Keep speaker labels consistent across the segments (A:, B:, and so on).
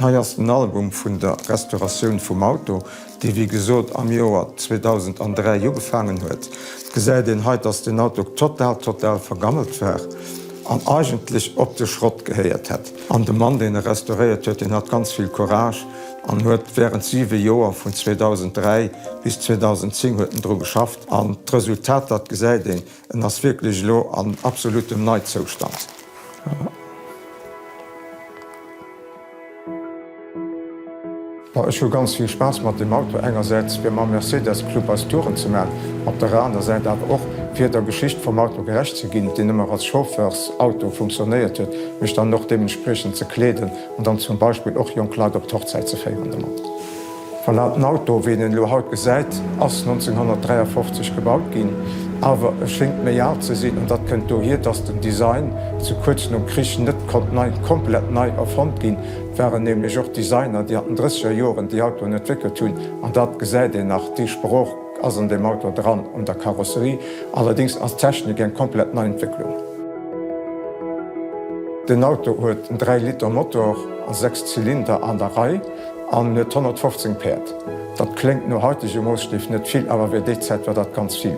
A: Hei ass den Album vun der Restauratioun vum Auto, déi wéi gesot am Joer 2003 ugefaangen huet. Gesäit een hei, dass den Auto total total vergammelt war an eigentlech op de Schrott gehéiert hätt. An de Mann, deen e restauréiert huet, deen hat ganz vill Courage an huet wärend 7 Joer, vun 2003 bis 2010 huet en dru geschafft an d'Resultater, d'gesäit een. En ass wierklech elo an absolutem Neizoustand. Ech hu ganz vill Spaass mat deem Auto, engersäits fir mam Mercedes Club eis Touren ze man, op der aner Säit awer och fir der Geschicht vum Auto gerecht ze ginn, deen ëmmer als Chauffeursauto funktionéiert huet, mech dann och deementspriechend ze kleeden an dann zum Beispill och jonk Leit op d'Hochzäit ze féieren domat. Voilà, den Auto, wéi een en elo haut gesäit, ass 1953 gebaut ginn, awer e schéngt méi al ze sinn. An dat kënnt dohier, dass den Design zu kuerz nom Krich net konnt nei, komplett nei erfonnt ginn. Et waren nämlech och Designer, déi an den drësseger Joren déi Autoen entwéckelt hunn. An dat gesäit een nach, déi Sprooch ass an deem Auto dran, un der Karosserie. Allerdéngs ass d'Technik eng komplett nei Entwécklung. Den Auto huet en 3 Liter Motor a 6 Zylinder an der Rei. An huet 115 Päerd. Dat kléngt no haitege Moosstief net vill, awer fir déi Zäit war dat ganz vill.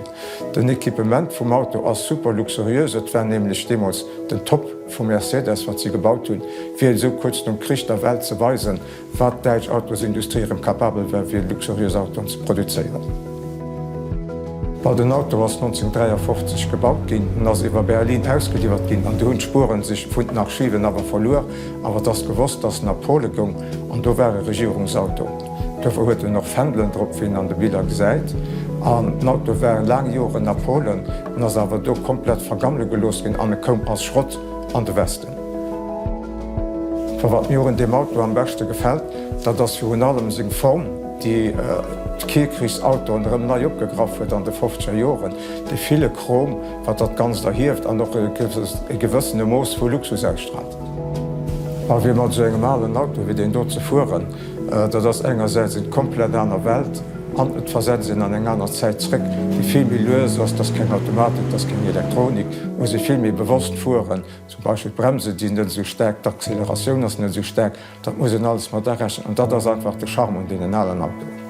A: Den Equipement vum Auto ass super luxuriös, et war nämlech deemools den Top vu Mercedes wat si gebaut hunn, fir esou kuerz nom Krich der Welt ze weisen, wat d'däitsch Autosindustrie erëm capabel war fir luxuriös Autoen ze produzéieren. Well den Auto ass 1953 gebaut ginn, en ass iwwer Berlin ausgeliwwert ginn an do hunn d'Spuere sech vun den Archiven awer verluer. Awer et ass gewosst, dass en a Pole goung, an do war e Regierungsauto. Duerfir huet en och Fändelen drop, wéi een an de Biller gesäit. An den Auto war laang Joren a Polen, en ass awer do komplett vergammele gelooss ginn an e koum als Schrott an de Westen. Vu wat mir un deem Auto am beschte gefält, dat ass virun allem seng Form, déi d'Kierkrichsautoen erëm nei opgegraff huet an de fofzeger Joren. Dee ville Chrom, wat dat Ganzt erhieft an och e gewëssene Mooss vu Luxus ausstraalt. A fir mat esou engem alen Auto wéi deen do ze fueren, dat ass engersäits eng komplett aner Welt an et versetzt een an eng aner Zäit zréck, déi vill méi lues ass. Et ass keng Automatik, et ass keng Elektronik. Et muss ee vill méi bewosst fueren. Zum Beispill d'Bremsen, déi sinn net esou staark, d'Acceleratioun ass net esou staark. Dat muss een alles mat arechnen an dat ass einfach de Charme un deenen alen Autoen.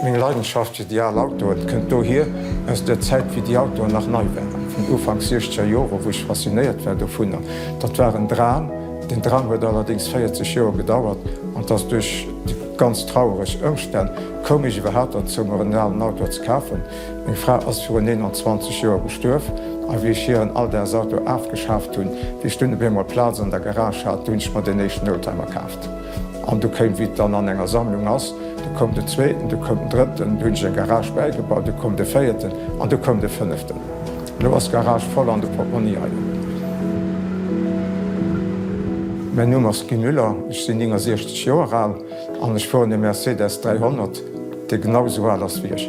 A: Meng Leidenschaft fir déi al Autoen kënnt dohier, aus der Zäit wéi déi Autoen nach nei waren, vun Ufank siechzeger Joren, wou ech faszinéiert war dovunner. Dat war en Dram, den Dram huet allerdéngs 40 Joer gedauert an dass duerch déi ganz trauereg Ëmstänn koum ech iwwerhaapt derzou mer en alen Auto ze kafen. Meng Fra ass virun 29 Joer gestuerf a wéi ech hiren Alldagsauto afgeschaaft hunn, wéi ech dunn op eemol Plaz an der Garage hat, du hunn ech mer den éischten Oldtimer kaaft. An du kéim, wéi et dann an enger Sammlung ass, du koum de Zweeten, du koum den Drëtten, du hunn ech eng Garage bäigebaut, du koum de Véierten an du koum de Fënneften. An elo ass d'Garage voll an de Portmonni hei un. Mäin Numm ass Guy Müller, ech sinn 69 Joer al an ech fueren e Mercedes 300, dee genau esou al ass wéi ech.